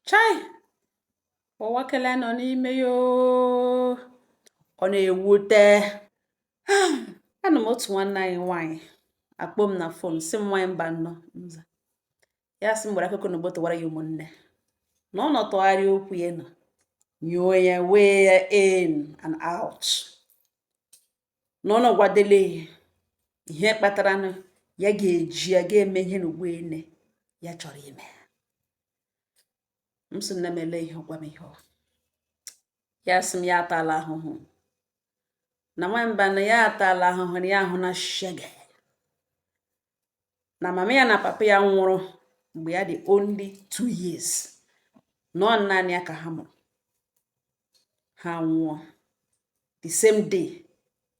chai ụwa kele nọ n'ime ya ọ na-ewute anọ m otu nwanne anyị nwaanyị akpọọ m na fon sị m nwaanyị mba nnọọ ya sị m gbara akụkọ na gbotowara ya ụmụnne na ọ nọtụgharị okwu ya nọ nyuo ya wee ya in and out na ọ nọgwadele ihe kpatara na ya ga-eji ya ga-eme ihe na ene ya chọrọ ime m sị nne m ele ihe ọ gwa m ihe ọ ya sị m ya atala ahụhụ na nwa mba na ya atala ahụhụ na ya ahụna shege na mama ya na papa ya nwụrụ mgbe ya dị only two years na ọ naanị ya ka ha mụrụ ha nwụọ the same day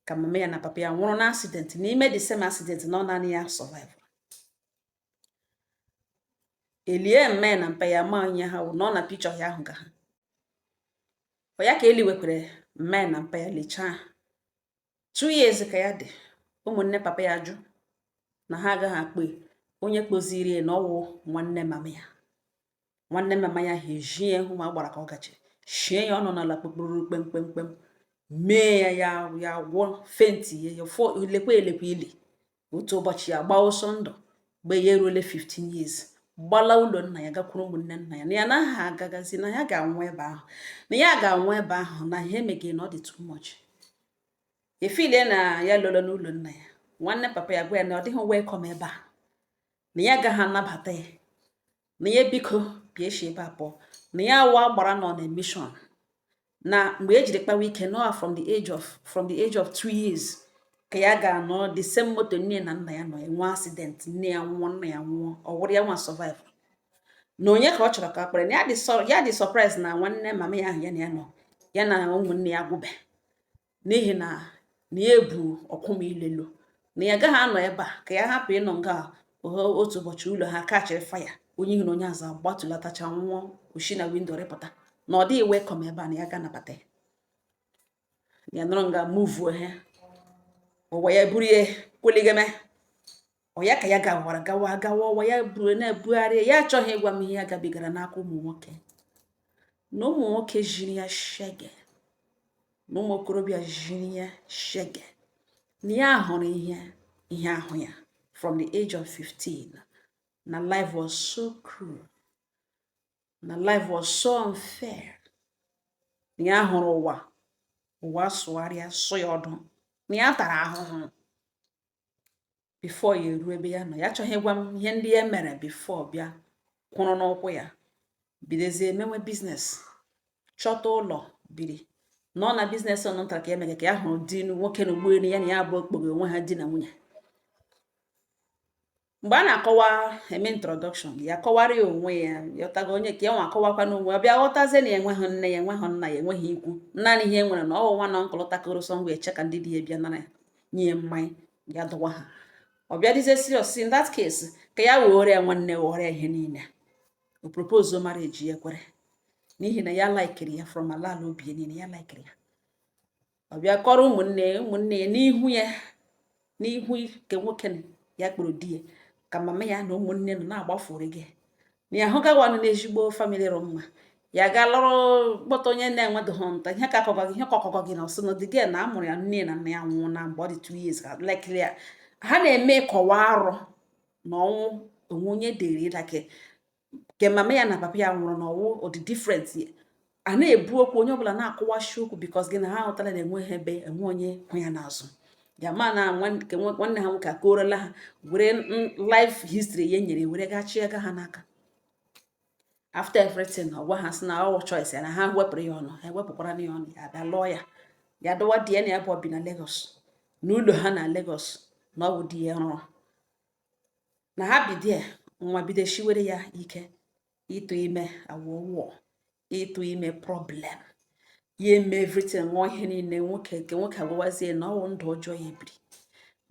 ka mama ya na papa ya nwụrụ na accident n'ime the same accident na ọ naanị ya survive e lie mma ya na mpa ya ma onye ha wụ na ọ na picture ya ahụ ka ha ọ ya ka e liwekwere mma ya na mpa ya lichaa two years ka ya dị ụmụnne papa ya jụ na ha agaghị akpọ ya onye kpọziri ya na ọ wụ nwanne mama ya nwanne mama ya ha ejie ya hụ ma gbara ka ọ gachi shie ya ọnụ n'ala kpekpụrụ kpemkpemkpem mee ya ya ya gwọ fenti ya ya fọ elekwe elekwe ili otu ụbọchị ya gbaa ọsọ ndụ mgbe ya eruole 15 years gbala ụlọ nna ya gakwuru ụmụnne nna ya na ya anaghị agagazi na ya ga-anwụ ebe ahụ na ya ga-anwụ ebe ahụ na ihe e megha ya na ọ dị too much efilie na ya lọrọ n'ụlọ nna ya nwanne papa ya gwa ya na ọ dịghị welcome ebe a na ya agaghị anabata ya na ya biko bịa shi ebe a pụọ na ya wụ agbara nọ na mission na mgbe e jiri kpawa ike nọa from the age of two years ka ya gara nọ the same moto nne ya na nna ya nọ enwee accident nne ya nwụọ nna ya nwụọ ọ wụrụ ya nwa survive na onye ka ọ chọrọ ka kpọrọ ya na ya dị surprise na nwanne mama ya ahụ ya na ya nọ ya na ụmụnne ya gwụbe n'ihi na na ya ebu ọkwụ m ilelu na ya gaghị anọ ebe a ka ya hapụ ịnọ nga otu ụbọchị ụlọ ha kachịrị fire onye ihu na onye azụ agbatulatacha nwụọ o shi na window rịpụta na ọ dịghị welcome ebe a na ya agaghị anabata ya ya nọrọ nga muvuo ha ụwa ya buru ya kweligeme ọ ya ka ya gawara gawa gawa ụwa ya buru na-ebugharị ya achọghị ịgwa m ihe ya gabigara n'aka ụmụ nwoke na ụmụ nwoke jiri ya shege na ụmụ okorobịa jiri ya shege na ya hụrụ ihe ihe ahụ ya from the age of 15 na life was so cruel na life was so unfair na ya hụrụ ụwa ụwa sụgharịa sụ ya ọdụ na ya tara ahụhụ before ya eruo ebe ya nọ ya achọghị ịgwa m ihe ndị ya mere before bịa kwụrụ n'ụkwụ ya bidozie mewe business chọta ụlọ biri nọ na business ọnụ nta ka emege ka ya hụrụ di nwoke na ụgbọelu ya na ya abụọ kpọghe onwe ha di na nwunye mgbe a na-akọwa eme introduction ya kọwara ya onwe ya ya ghọtago onye ka ya nwa akọwakwa n'onwe ọ bịa ghọtazie na ya enweghị nne ya enweghị nna ya enweghị ikwu naanị ihe e nwere na ọwụwa na nkụlụ takoro so mgbe eche ka ndị di ya bịa nara nye mmanya ya dọwa ha ọ bịa dịzie serious in that case ka ya were ya nwanne were ihe niile o propose marriage ya kwere n'ihi na ya laikiri ya from ala ala obi niile ya laikiri ya ọ bịa kọrọ ụmụnne ya ụmụnne ya n'ihu ya n'ihu nke nwoke ya kpọrọ di ya ka mama ya na ụmụnne nọ na-agbafuri gị na ya hụgawanụ n'ezigbo family rụ mma ya gaa lụrụ kpọta onye na-enwedoghị nta ihe ka akọgọ gị ihe ka ọkọgọ gị na ọsị na dịgị na amụrụ ya nne na nna ya nwụọ na mgbe ọ dị two years ka lekịrị ya ha na-eme kọwa arọ na ọnwụ onwe onye dịrị ịdake nke mama ya na papa ya nwụrụ na ọ wụ ọ dị different a na-ebu okwu onye ọbụla na-akọwashi okwu because gị na ha ahụtala na enweghị ebe enwe onye hụ ya n'azụ ya ma na nwanne ha nwoke akọrọla ha were life history ya nyere were gachi ego ha n'aka after everything ọ gwa ha sị na ọ wụ choice ya na ha wepụrụ ya ọnụ ha ewepụkwara ya ọnụ ya bịa lụọ ya ya dọwa di ya na ya abụọ bi na Lagos n'ụlọ ha na Lagos na ọ bụ di ya rụrụ na ha bido nwa bido shiwere ya ike ịtụ ime awụwụọ ịtụ ime problem ya eme everything ṅụọ ihe niile nwoke nke nwoke agwawazie na ọ wụ ndụ ọjọọ ya biri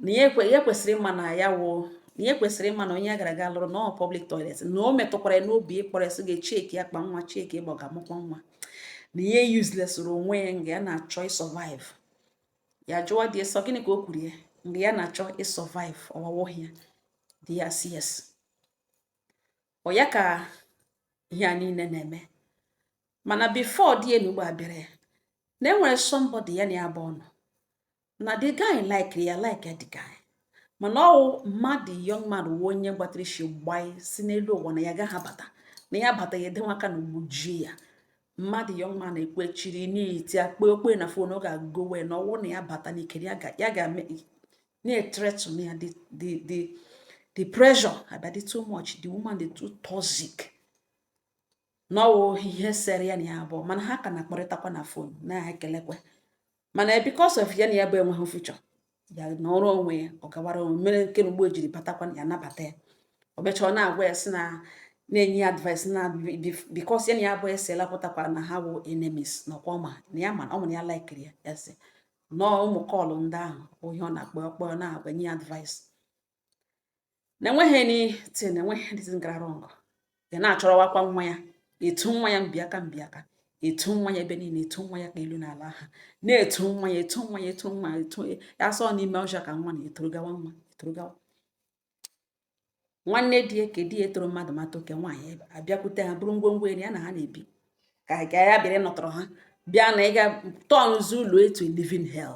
na ya kwesịrị ịma na ya wụ na ya kwesịrị ịma na onye ya gara aga lụrụ na ọ public toilet na o metụkwara ya n'obi ịkpọrọ ya sị gaa checkie akpa nwa checkie ịgba ga-amụkwa nwa na ya uselessịrị onwe ya nga ya na-achọ ịsurvive ya jụọ di ya sị ọ gịnị ka o kwuru ya mgbe ya na-achọ ịsurvive ọwawoghị ya di ya sị yes ọ ya ka ihe a niile na-eme mana before di ya na ugbu a abịara ya na e nwere somebody ya na ya abụọ nọ na the guy like ya like the guy mana ọ wụ mama the young man wụ onye gbatara isi gbaa isi n'elu ụwa na ya gaghị abata na ya bata ya edenwe aka na ugbujie ya mama the young man ekwechiri n'iti akpa okpe na phone ọ ga-agowe na ọ wụ na ya bata n'ike ya ga na-ethreaten ya the pressure abịadị too much the woman dị too toxic na ọ wụ ihe sere ya na ya abụọ mana ha ka na-akpọrịtakwa na fon na-ekelekwa mana because of ya na ya bụ enweghị future ya anọrọ onwe ya ọ gawara onwe mere nke na ugbu o jiri batakwa ya nabata ya o mechaa ọ na-agwa ya sị na na-enye ya advice na because ya na ya abụọ esela pụtakwara na ha wụ enemies na ọkwa ọ ma na ya ma na ọ mụrụ ya laikiri ya sị no ụmụ call ndị ahụ ihe ọ na-akpọ ọ kpọọ na-agwa nye ya advice na enweghị anything na enweghị anything gara wrong ya na-achọrọwakwa nwa ya etu nwa ya mbiaka mbiaka etu nwa ya ebe niile etu nwa ya ka elu na ala ha na-etu nwa ya etu nwa ya etu nwa ya etu ya asọ n'ime ọcha ka nwa na-etoro gawa nwa etoro gawa nwanne di ya ka di ya etoro mmadụ mata oke nwaanyị abịakwute ha buru ngwongwo eri ya na ha na-ebi ka ga ya bịara nọtọrọ ha bịa na ịga turnụzi ụlọ into living hell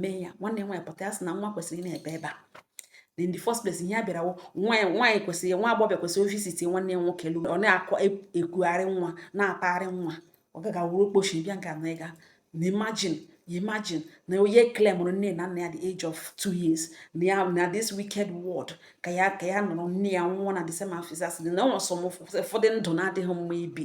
mee ya nwanne nwaanyị pụta ya sị na nwa kwesịrị na-ebi ebe a in the first place ihe a bịara nwaanyị kwesịrị nwa agbọghọbịa kwesịrị ịvisit nwanne ya nwoke lụrụ ọ na-akọ e, ekwugharị nwa na-apagharị nwa ọ gaga wuru okpochi bịa nke na ịga na imagine imagine na onye claimụrụ nne na nna ya the age of two years na ya na this wicked world ka ya ka ya nọrọ nne ya nwụọ na the same afisas na ọ sọ ụfọdụ ndụ na-adịghị mma ibi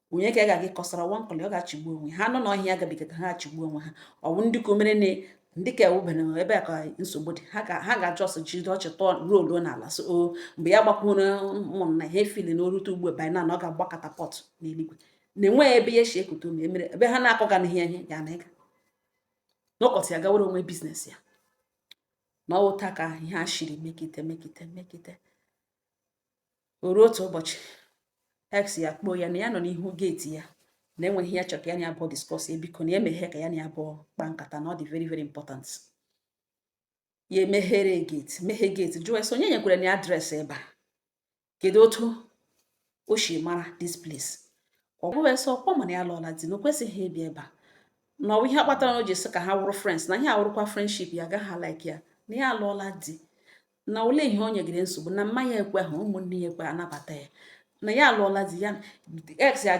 onye ka a ga-aga ịkọsara nwa Nkọlị ọ ga-achịgbu onwe ha n'ọchị agabigata ha achịgbu onwe ha ọ bụ ndị ka o mere na ndị ka ewubere ebe a ka nsogbu dị ha ga-achọ ọsọ jide ọchị tọọ ruo oluo n'ala so o mgbe ya gbakwuru ụmụnna na ha efili na o rute ugbu ebe na ọ ga-agba katapọt n'eluigwe na enweghị ebe ya si ekute ume emere ebe ha na-akọ ga n'ihe ihe ya na ịga n'ụkọtụ ya gawere onwe business ya na ọ wụ otu a ka ihe a shiri mekite mekite mekite o ruo otu ụbọchị ex ya kpọọ ya na ya nọ n'ihu geeti ya na e nwere ihe ya chọrọ ka ya na ya abụọ discuss ya biko na emeghe ka ya na ya abụọ kpaa nkata na ọ dị very very important ya emeghere geeti meghe geeti jụọ ese onye nyekwara na ya adreesị ebe a kedu otu o si mara this place ọ bụghị ese ọkwa ọ ma na ya lụọla di na o kwesịghị ịbịa ebe a na ọ bụ ihe kpatara na o ji sị ka ha wụrụ friends na ihe awụrụkwa friendship ya agaghị like ya na ya alụọla di na ole ihe o nyegide nsogbu na mama ya ekwehụ ụmụnne ya ekwe anabata ya na ya alụọla di ya ex ya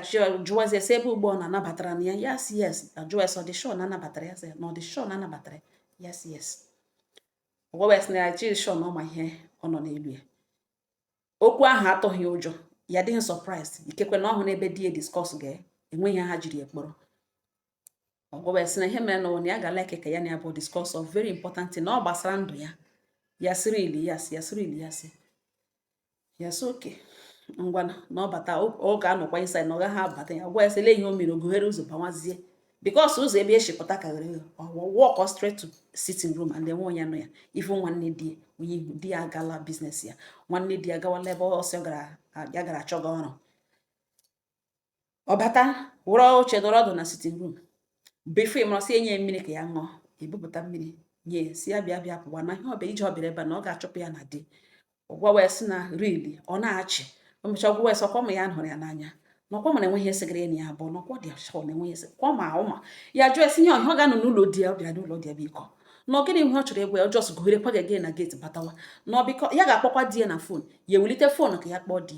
jụwazi ese ebe ugbo ọ na-anabatara na ya ya sị yes ajụwa ese ọ dị sure na a nabatara ya sị na ọ dị sure na a nabatara ya sị yes ọ gwawa ya sị na ya chiri sure na ọ ma ihe ọ nọ n'elu ya okwu ahụ atụghị ụjọ ya dịghị surprise ikekwe na ọ hụrụ ebe di ya discuss ga-enwe ihe ha jiri ekpọrọ ọ gwawa ya sị na ihe mere na ụwa ya ga like ka ya na ya abụọ discuss of very important thing na ọ gbasara ndụ ya ya sị really ya sị ya sị really ya sị ya sị okay ngwa na ọ bata ọ ga-anọkwa inside na ọ gaghị abata ya gwa ya sị lee ihe o mere o gughere ụzọ bawazie because ụzọ ebe e si pụta karịrị ya ọ wa walk straight to sitting room and enwe onye nọ ya ifu nwanne di onye ihu di ya agala business ya nwanne di ya gawala ebe ọ sị ọ gara ya gara achọga ọrụ ọ bata were oche nọrọ ọdụ na sitting room before ị mara sị e nye mmiri ka ya ṅụọ e bupụta mmiri nye sị ya bịa bịa pụwa na ihe ọ bịa ije ọ bịa ebe na ọ ga-achụpụ ya na di ọ gwawa ya sị na really ọ na-achị o mechaa ọ gwawa ya sị ọ kwa ọ ma ya hụrụ ya n'anya na ọ kwa ọ ma na enweghị ihe segara enyi ya abụọ nọkwa dị asọ na enweghị ese kwa ma ụma ya jụọ ya sị ihe ọ bịa ọ ga-anọ n'ụlọ di ya ọ bịara n'ụlọ di ya biko na ọ gịnị ihe ọ chọrọ ịgwa ya ọ just gụghere kwaga gị na gate batawa na biko ya ga-akpọkwa di ya na phone ya ewelite phone ka ya kpọọ di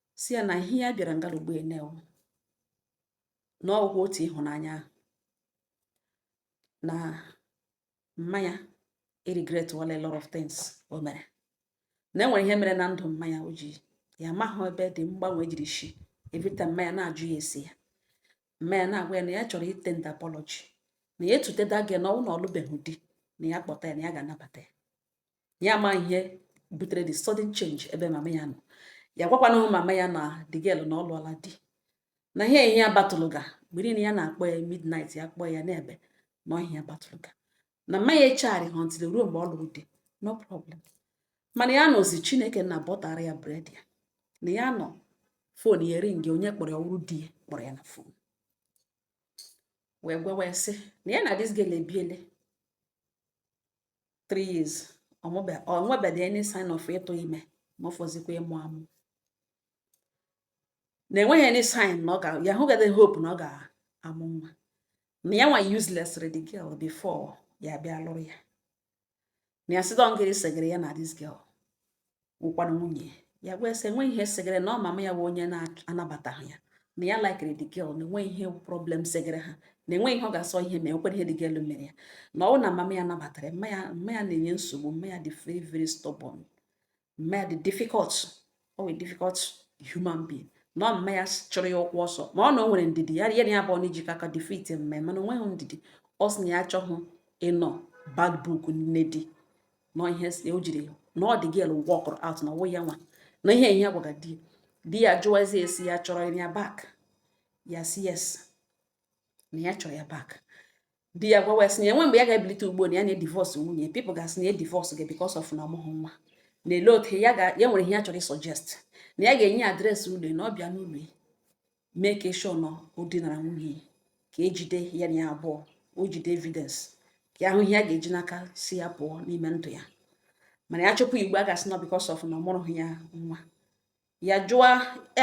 sị ya na ihe ya bịara nga a ugbu a na ọ wụ na ọ wụ otu ịhụnanya na mma ya eregretiala a lot of things o mere na enwere ihe mere na ndụ mma ya o ji ya amaghị ebe the mgbanwe jiri shi every time mma ya na-ajụ ya asị ya mma ya na-agwa ya na ya chọrọ itender apology na ya etute the girl na ọ wụ na ọ lụbeghị di na ya kpọta ya na ya ga-anabata ya ya ma ihe butere the sudden change ebe mama ya nọ ya gwakwana mama ya na the girl na ọ lụọla di na ihe ihe ya battle-ga mgbe niile ya na-akpọ ya midnight ya kpọọ ya na-ebe na ihe ya battle-ga na mma ya echegharịha until e ruo mgbe ọ lụrụ di no problem mana ya nọzi chineke nna butter-ra ya bread ya na ya nọ phone ya ering onye kpọrọ ya ọ wụrụ di ya kpọrọ ya na phone wee gwawa ya sị na ya na this girl ebiele 3 years o nwebedị any sign of ịtụ ime ma ọ fọzikwa ịmụ amụ na enweghị any sign na ọ ga ya hụgade hope na ọ ga-amụ nwa na ya nwa uselessrị the girl before ya bịa lụrụ ya na ya sị dọ na gịrị segere ya na this girl wụkwara nwunye ya wee sị enweghị ihe segere na ọ mama ya bụ onye na-anabataghị ya na ya likere the girl na enweghị ihe problem segere ha na enweghị ihe ọ ga-asọ ihe ma enwekwara ihe the girl mere ya na ọ na mama ya nabatara mma ya na-enye nsogbu mma ya dị very very stubborn mma ya dị difficult ọ wụ difficult human being na ọ mma ya chụrụ ya ụkwụ ọsọ ma ọ na o nwere ndidi ya ya na ya abụọ na-ejikọ aka defeat mma ya mana o nweghị ndidi ọ sị na ya achọghị ịnọ bad book nne di na ihe o jiri na ọ the girl walkụrụ out na ọ wụ ya nwa na ihe ya gwaga di di ya jụwazi ya sị ya chọrọ ya back ya sị yes na ya chọrọ ya back di ya gwawa sị na enwe mgbe ya ga-ebilite ugbu a na ya na-edivorce nwunye people ga-asị na edivorce gị because of na ọ mụghị nwa na lee otu ya nwere ihe ya chọrọ ịsuggest na ya ga-enye address ụlọ na ọ bịa n'ụlọ ya make sure na o dinara nwunye ka ejide ya na ya abụọ o jide evidence ka ahụ ihe ya ga-eji n'aka sị ya pụọ n'ime ndụ ya mana ya chụpụ ugbo a ga-asị na because of na ọ mụrụhụ ya nwa ya jụọ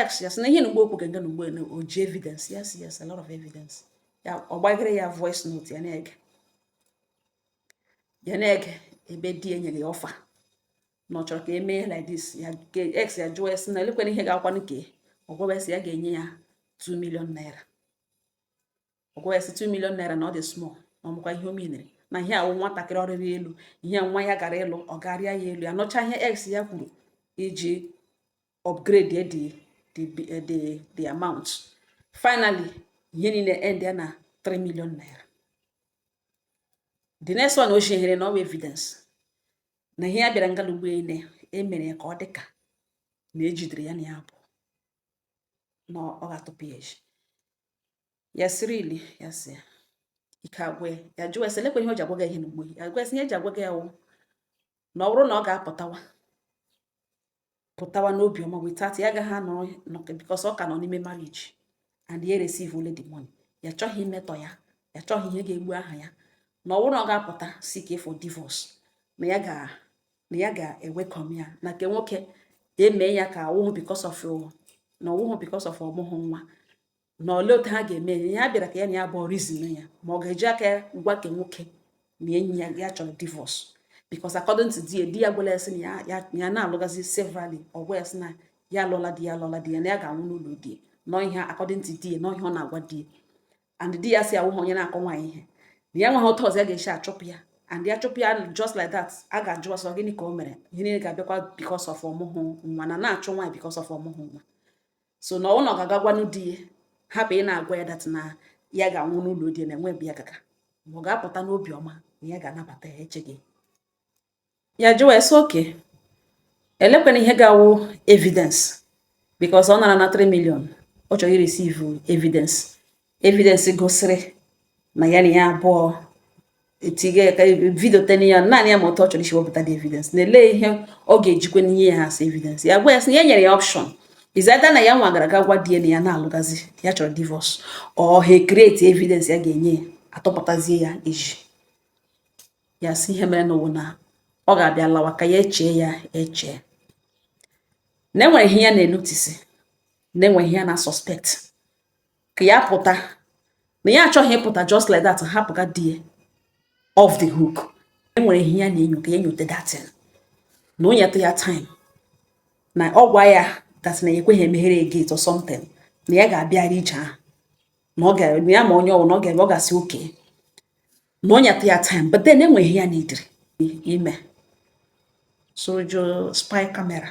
ex ya sị na ihe na ugbo okwu ga-ege na ugbo o ji evidence yes yes a lot of evidence ya ọ gbaghere ya voice note ya na-ege ya na-ege ebe di enyere ya offer na ọ chọrọ ka e mee ya like this ya ka ex ya jụọ ya sị na elekwere ihe ga-akwanụ ka ọ gwawa ya sị ya ga-enye ya 2 million naira ọ gwawa ya sị 2 million naira na ọ dị small na ọ makwa ihe o menere na ihe awụ nwatakịrị ọ rịrị elu ihe nwa ya gara ịlụ ọ ga-arị ya elu ya nọcha ihe ex ya kwuru iji upgrade ya the the, the, the amount. Finally, ihe niile end ya na 3 million naira. The next one o shehere na ọ bụ evidence. na ihe ya bịara nga ugbo a na emere ya ka ọ dịka na ejidere ya na ya abụọ na ọ ga-atụpụ ya eji ya siri ili ya si ya ike agwa ya ya jụwa ya sị elekwa ihe o ji agwaga ya ihe na ugbo ya gwa ya sị ihe ya ji agwaga ya wụ na ọ bụrụ na ọ ga-apụtawa pụtawa n'obi ọma without ya agaghị anọ because ọ ka nọ n'ime marriage and ya receive only the money ya chọghị imetọ ya ya chọghị ihe ga-egbu aha ya na ọ wụrụ na ọ ga-apụta seek for divorce na ya ga na ya ga-ewelcome ya na nke nwoke eme ya ka ọ wụhụ because of na ọ wụhụ because of ọ mụhụ nwa na ole otu ha ga-eme ihe ya bịara ka ya na ya abụọ reason ya ma ọ ga-eji aka ya gwa nke nwoke na enyi ya ya chọrọ divorce because according to di di ya gwala ya sị na ya na-alụgazi severally ọ gwa ya sị na ya alụọla di ya alụọla di ya na ya ga-anwụ n'ụlọ di nọ ihe according to di nọ ihe ọ na-agwa di and di ya sị awụhụ onye na-akụ nwaanyị ihe na ya nweghị otu ọzọ ya ga-esi achụpụ ya and ya chụpụ ya just like that a ga-ajụ a sị ọ gịnị ka o mere ihe niile ga-abịakwa because of ọ mụhụ nwa na a na-achụ nwaanyị because of ọ mụhụ nwa so na ọ wụ na ọ ga-aga gwanụ di ya hapụ ịna-agwa ya that na ya ga-anwụ n'ụlọ di ya na enwe ebe ya gaga ma ọ ga-apụta n'obi ọma na ya ga-anabata ya echeghị ya jụwa ya sị okay elekwanụ ihe ga-awụ evidence because ọ narana 3 million ọ chọrọ ireceive evidence evidence gosiri na ya na ya abụọ etinye ka video tena ya naanị ya ma otu ọ chọrọ isi wepụta the evidence na ele ihe ọ ga-ejikwa n'ihe ya as evidence ya gwa ya sị na ya nyere ya option is either na ya nwa gara ga gwa di ya na ya na-alụgazi ya chọrọ divorce or ha ecreate evidence ya ga-enye ya atụpụtazie ya eji ya sị ihe mere n'ụwa na ọ ga-abịa lawa ka ya echee ya echee na enwere ihe ya na-enotice na enwere ihe ya na-asuspect ka ya pụta na ya achọghị ịpụta just like that hapụga di ya off the hook enwere ihe ya na-enyo ka ya nyote that thing na o nyeta ya time na ọ gwa ya that na ya ekweghị emeghere ya gate or something na ya ga-abịara ije ahụ na ọ gaghị ama onye ọ wụ na ọ ga-eme ọ ga-asị okay na o nyeta ya time but then enwere ihe ya needịrị ime sojo spy camera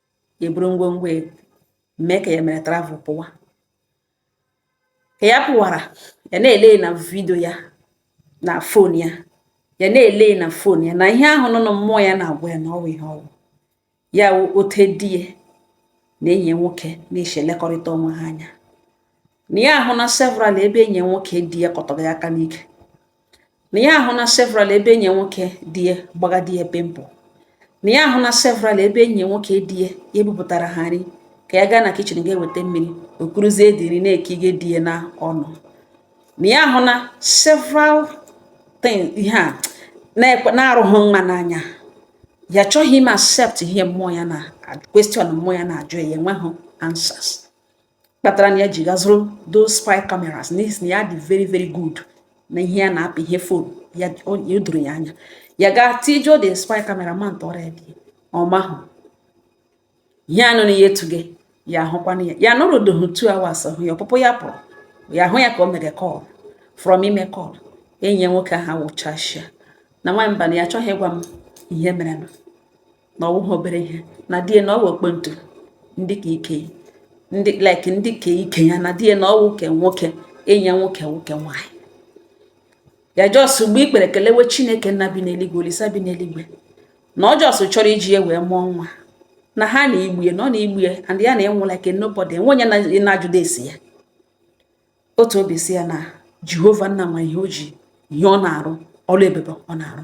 eburu ngwongwo e, mee ka ya mere travel pụwa ka ya pụwara ya na-ele na vidio ya na fon ya ya na-ele na fon ya na ihe ahụ nọ na mmụọ ya na-agwa ya na ọ wụ ihe ọ wụ ya wụ otu di ya na enyi ya nwoke na-esi elekọrịta onwe ha anya na ya ahụ na several ebe enyi nwoke di ya kọtọrọ ya aka n'ike na ya ahụ na several ebe enyi nwoke di ya gbaga di ya pimple na ya ahụ na several ebe enyi nwoke di ya ya ebupụtara ha nri ka ya gaa na kitchen ga-eweta mmiri o kuruzie dị nri na-ekige di ya na ọnụ na ya ahụ na several things ihe a na-arụghị mma n'anya ya achọghị ime accept ihe mmụọ ya na question mmụọ ya na-ajụ ya enweghị answers kpatara na ya ji gazụrụ those spy cameras n'ihi na ya dị very very good na ihe ya na-apị ihe fon ya doro ya anya ya gaa tijuo the spy camera monitor ya di ya amahụ ihe anụ na ya etuge ya ahụkwana ya ya anọrudohu two hours hụ ya ọpụpụ ya pụrụ ya hụ ya ka o mere call from ime call enyi ya nwoke ahụ wụchashia na nwamba na ya achọghị ịgwa m ihe mere na ọ wụghị obere ihe na di ya na ọ wụ ọkpọntu ndị ka ike ndị like ndị ka ike ya na di ya na ọ wụ nke nwoke enyi ya nwoke nwoke nwaanyị ya just egbuo ikpere kelewe chineke nna bi n'eluigwe olisa bi n'eluigwe na ọ just chọrọ iji ya wee mụọ nwa na ihe a na-egbu ya na ọ na-egbu ya and ya na-enwe like nobody nwe onye na-ajụda ese ya otu obi si ya na jehova nna nwe ihe o ji ihe ọ na-arụ ọrụ ebube ọ na-arụ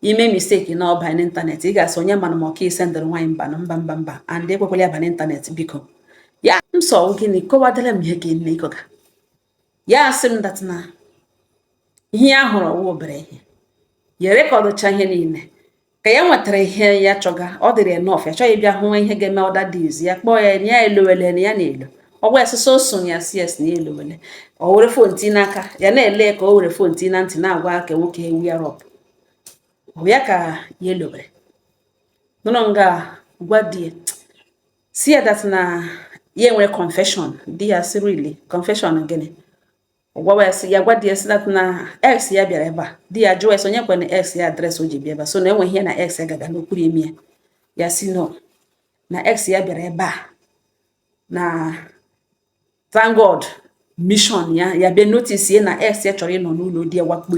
i mee mistake na ọ baa n'ịntanetị ị ga-asị onye mana m ka ị sendịrị nwaanyị mba na mba mba mba and ekwekwala ya ba n'ịntanetị biko ya m sị ọ gịnị kọwadara m ihe ka eme ịkọga ya asị m that na ihe ya hụrụ ọ wụghị obere ihe ya rekọdụcha ihe niile ka ya nwetara ihe ya chọga ọ dịrị ya enough ya achọghị bịa hụ ihe ga-eme other days ya kpọọ ya na ya elowele na ya na-elo ọ gwa ya sị so soon ya sị yes na ya elowele o were fon ti n'aka ya na-ele ka o were fon ti na ntị na-agwa aka nwoke ahụ ya wrap up ya ka ya elobere nọrọ nga gwa di ya sị ya that na ya nwere confession di ya sị really confession gịnị ọ gwawa ya sị ya gwa di ya sị that na ex ya bịara ebe a di ya jụwa ya sị onye kwe na ex ya address o ji bịa ebe a so na enweghị ihe na ex ya gaga n'okpuru imi ya ya sị no na ex ya bịara ebe a na thank God mission ya ya bịa notice na ex ya chọrọ ịnọ n'ụlọ di ya wakpo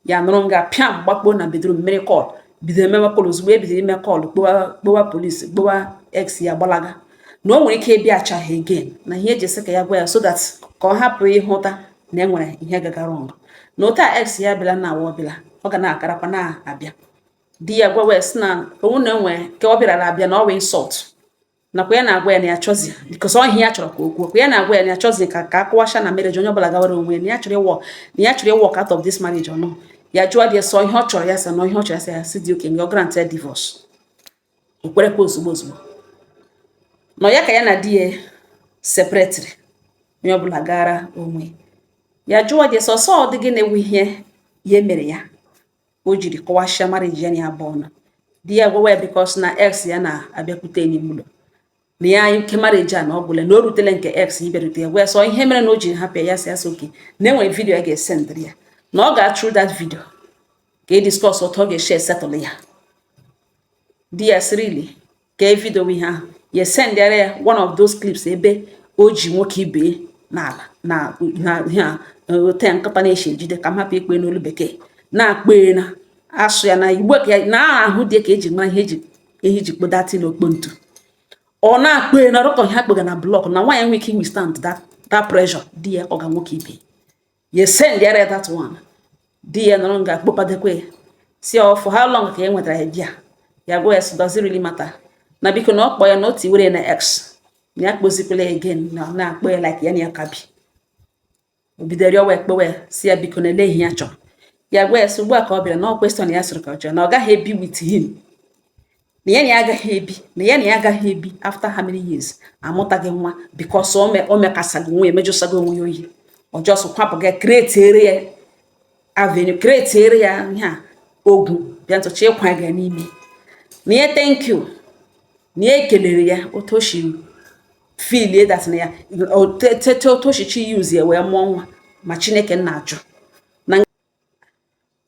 ya nọrọ nga pịam gbakpo na bedroom mmiri call bido emewe call ozugbo ebido ime call kpọwa polisi kpọwa ex ya gbalaga na o nwere ike ịbịa achaghị again na ihe eji sị ka ya gwa ya so that ka ọ hapụ ịhụta na e nwere ihe gagara ọnụ na otu a ex ya bịala na awa ọbụla ọ ga na-agarakwa na-abịa di ya gwawa sị na onwu na enwe ka ọ bịara abịa na ọ wụ insult nakwa ya na-agwa ya na ya chọzi because ọ ihe ya chọrọ ka o kwuo ya na-agwa ya na ya chọzi ka ka a kụwasha na marriage onye ọbụla gawara onwe ya na ya chọrọ ịwalk na ya chọrọ ịwalk out of this marriage ọnụ ya jụọ di ya sị ọ ihe ọ chọrọ ya sị na ihe ọ chọrọ ya sị ya sị dị okay na ọ grant ya divorce o kwerekwa ozugbo ozugbo na ọ ya ka ya na di ya separatịrị onye ọbụla gara onwe ya jụọ gị sọsọ ọ dị gị na-ewu ihe ya mere ya o jiri kụwasịa marriage ya na ya abụọ na di ya gwawa ya because na ex ya na-abịakwute n'ime ụlọ na ya ike marriage a na ọ gwụla na o rutele nke ex ịbịarute ya gwa ya sị ọ ihe mere na o jiri hapụ ya sị asị okay na enwere vidio ya ga-esendịrị ya na ọ ga-a through that vidio ka e discuss otu ọ ga-esi esettle ya di ya sị really ka e vidio ihe ahụ ya sendịara ya one of those clips ebe o ji nwoke ibe n'ala na ihe a ote nkata na-eche ejide ka m hapụ ịkpọ ya n'olu bekee na-akpọ ya na-asụ ya na igbo ka ya na ahụ dị ka eji mara ihe eji ihe eji kpọ that thing okpo ntu ọ na-akpọ na rock ihe a kpọga na block na nwaanyị nwere ike iwithstand that pressure di ya ọ ga nwoke ibe ya sendịara ya that one di ya nọrọ nga kpọpadekwa ya sị ọ for how long ka e nwetara ya bịa ya gwa ya sị does it really matter na biko na ọ kpọ ya na o tiwere na ex na ya kpọzikwala again na ọ na-akpọ ya like ya na ya ka bi o bidoro rịọwa ekpewe ya sị ya biko na ele ihe ya chọrọ ya gwa ya sị ugbu a ka ọ bịara na question ya sịrị ka ọ chọrọ na ọ gaghị ebi with him na ya na ya agaghị ebi na ya na ya agaghị ebi after how many years amụtaghị nwa because o mekasaghị onwe ya emejụsaghị onwe ya oyi ọ just kwapụ ga createre ya avenue createre ya ihe a ogwu bịa ntụcha ịkwa ga n'ime na ya thank you na ya ekelere ya otu o si feel that na ya tete otu o si use ya wee mụọ nwa ma chineke nna ajụ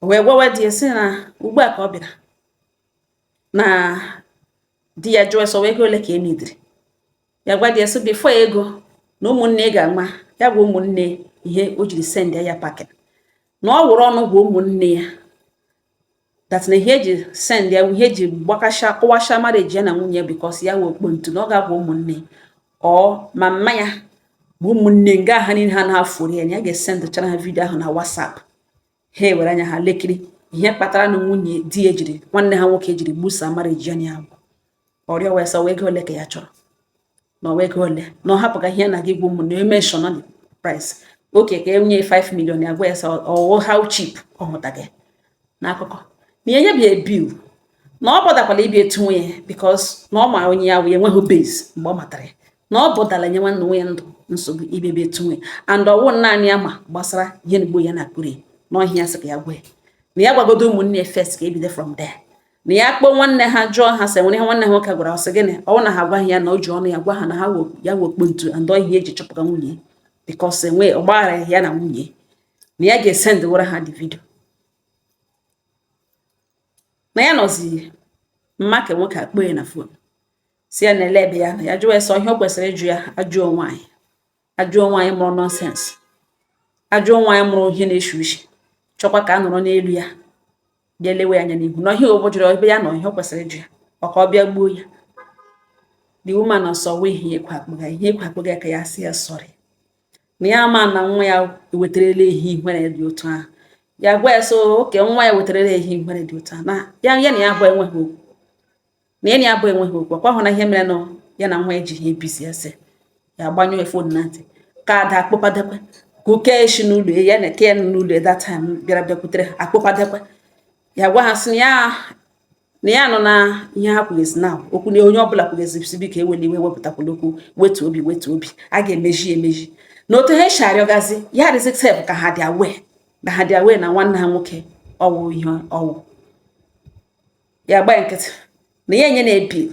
o wee gwawa di ya sị na ugbu a ka ọ bịara na di ya jụọ sị ọ ego ole ka e needịrị ya gwa di ya sị before ego na ụmụnne ga-ama ya gwa ụmụnne ihe o jiri send ya packing na ọ were ọnụ gwa ụmụnne ya that na ihe eji send ya ihe eji gbakasha kụwasha marriage ya na nwunye because ya wụ okpo ntu na ọ ga-agwa ụmụnne ọ ma mma ya bụ ụmụnne nga ha niile ha na-afụri ya na ya ga-esendụchara ha vidio ahụ na WhatsApp ha ewere anya ha lekiri ihe kpatara na nwunye di ya jiri nwanne ha nwoke jiri gbusa marriage ya agwụ ọrịa wee sị ọwụ ego ole ka ya chọrọ na ọwụ ego ole na ọ hapụga ihe na gị gwu ụmụ na mention the price okay ka enye 5 million ya gwa ya sị ọwụ how cheap ọ nụtaghị n'akụkọ na enye bi ebil na ọ bọdakwala ibi etu nwunye ya because na ọ ma onye ya wụ ya enweghị base mgbe ọ matara ya na ọ bọdala nye nwanne nwunye ndụ nsogbu ibebe etu nwunye and ọwụ naanị ya ma gbasara ihe na ya na akpụrụ ya n'ọhịa ya sị ka ya gwa ya na ya gwagodo ụmụnne ya first ka ebido from there na ya kpọọ nwanne ha jụọ ha sị nwere ihe nwanne ha nwoke gwara ọ sị gịnị ọwụ na ha agwaghị ya na o ji ọnụ ya gwa ha na ha ya wekpo ntu and ọhịa eji chọpụta nwunye because enwe ọgbaghara ya na nwunye na ya ga-esendịwara ha the video na ya nọziri mma ka nwoke akpọ ya na phone sị ya na olee ebe ya nọ ya jụọ ya sị ọ ihe o kwesịrị ịjụ ya ajụọ nwaanyị ajụọ nwaanyị mụrụ nonsense ajụọ nwaanyị mụrụ ihe na-eshi ushi chọkwa ka a nọrọ n'elu ya bịa lewe ya anya n'ihu na ihe o jụrụ ebe ya nọ ihe o kwesịrị ịjụ ya maka ọ bịa gbuo ya the woman ọsọ wee ihe ekwe akpụga ihe ekwe akpụga ka ya sị ya sorry na ya ma na nwa ya wetarala ya ihere dị otu ahụ ya gwa ya sị okay nwa ya wetarala ya ihere dị otu ahụ na ya ya na ya abụọ enweghị okwu na ya na ya abụọ enweghị okwu akwa hụ na ihe mere na ya na nwa ya ji ha ebisi ese ya gbanyụọ ya phone na ntị ka ada akpọpadekwe ka oke eshi n'ụlọ ya na eke ya n'ụlọ that time bịara bịakwutere ha akpọpadekwe ya gwa ha sị na ya na ya nọ na ihe ha kwugazi na okwu na onye ọbụla kwugazi sị biko ewela iwe wepụtakwala okwu wetu obi wetu obi a ga-emezi emezi na otu ha esi arịọgazi ya adịzi sef ka ha dị aware na ha dị aware na nwanne ha nwoke ọwụ ihe ọwụ ya gbaa nkịtị na ya enye na-ebi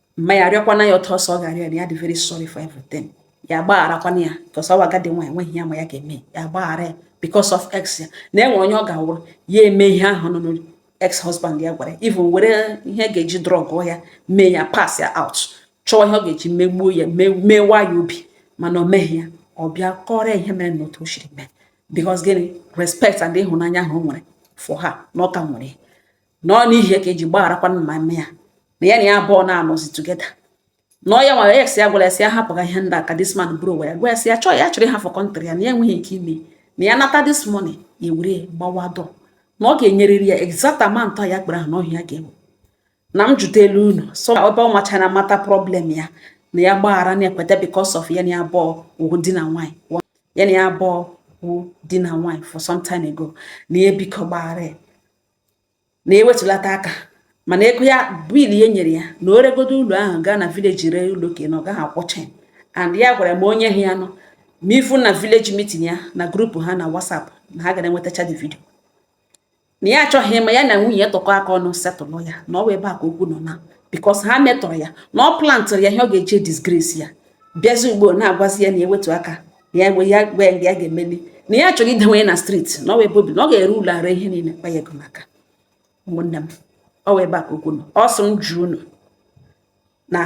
mma ya arịọkwana ya otu ọsọ ọ ga-arịọ ya dị very sorry for everything ya agbagharakwana ya because ọwụ agadi nwa enweghị ya ma ya ga-eme ya agbaghara ya because of ex ya na enwe onye ọ ga-awụrụ ya eme ihe ahụ nọ n'olu ex husband ya gwara even were ihe ga-eji drug ya mee ya pass ya out chọọ ihe ọ ga-eji megbuo ya mewa ya obi mana o meghị ya ọ bịa kọrọ ya ihe mere na otu o siri mee because gịnị respect and ịhụnanya ahụ o nwere for her na ọ ka nwere na ọ n'ihi ya ka eji gbagharakwa mma mme ya na ya na ya abụọ na-anọzi together na ọ ya nwara ya ya gwara ya sị ya hapụga ihe ndị ahụ ka this man bụrụ ụwa ya gwa ya sị ya chọọ ya chọrọ ịhafụ country ya na ya enweghị ike ime na ya nata this money ya ewere gbawa door na ọ ga-enyerịrị ya exact amount ya kpere ahụ n'ọhịa ya ga-enwe na m jụta elu unu so ebe ọ machara mata problem ya na ya gbaghara na ekweta because of ya na ya abụọ wụ di na nwaanyị ya na ya abụọ wụ di na nwaanyị for some time ago na ya biko gbaghara ya na ewetulata aka mana ego ya bill ya nyere ya na o regodo ụlọ ahụ gaa na village ree ụlọ ka na ọ gaghị akwụcha and ya gwara m onye ha ya nọ ma ifu na village meeting ya na group ha na WhatsApp na ha gara enwetacha the video na ya achọghị ịma ya na nwunye ya tikọ aka ọnụ settle ya na ọ bụ ebe a ka okwu nọ na because ha metọrọ ya na ọ plantịrị ya ihe ọ ga-eji disgrace ya bịazi ugbo na-agwazi ya na ewetu aka ya gwa ya gwa ya ya ga-emeli na ya chọrọ idewe ya na street na ọ wụ ebe o bi na ọ ga-ere ụlọ ara ihe niile kpa ya ego maka ụmụnne m ọ wụ ebe a ka okwu nọ ọ sị m jụọ unu na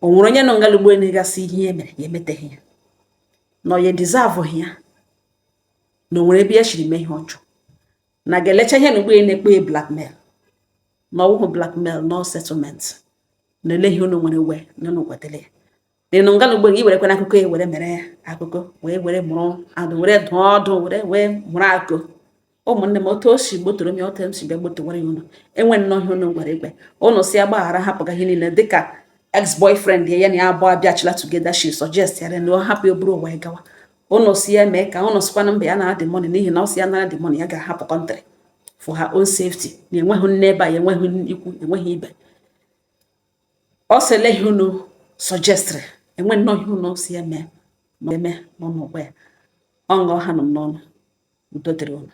o nwere onye nọ ngala ugbo na-asị ihe ya mere ya emeteghị ya na ọ ya deserveghị ya na o nwere ebe ya shiri mee ihe ọjọọ na ga-elecha ihe na ugbo ya na-akpọ ya blackmail na ọ wụhụ blackmail na ọ settlement na ele ihe unu nwere we na unu kwetara ya ị nọ ngala ugbo gị werekwana akụkọ e were mere ya akụkọ wee were mụrụ adụ were dụọ ọdụ were wee mụrụ akọ ụmụnne m otu o si gbotoro m ya otu m si bịa gbotowara ya unu e nwee nnọọ ihe unu gwara igbe unu sị ya gbaghara hapụga ihe niile dịka ex boyfriend ya ya na ya abụọ abịachila together she suggest ya na ọ hapụ ya buru ụwa ya gawa unu sị ya mee ka unu sịkwana mba ya nara the money n'ihi na ọ sị ya nara the money ya ga-ahapụ country for her own safety na enweghị nne ebe a enweghị ikwu enweghị ibe ọ sị ele ihe unu suggestịrị e nwee nnọọ ihe unu sị ya mee ma eme unu gwa ya ọ nga ọ hanụ m n'ọnụ udo dịrị unu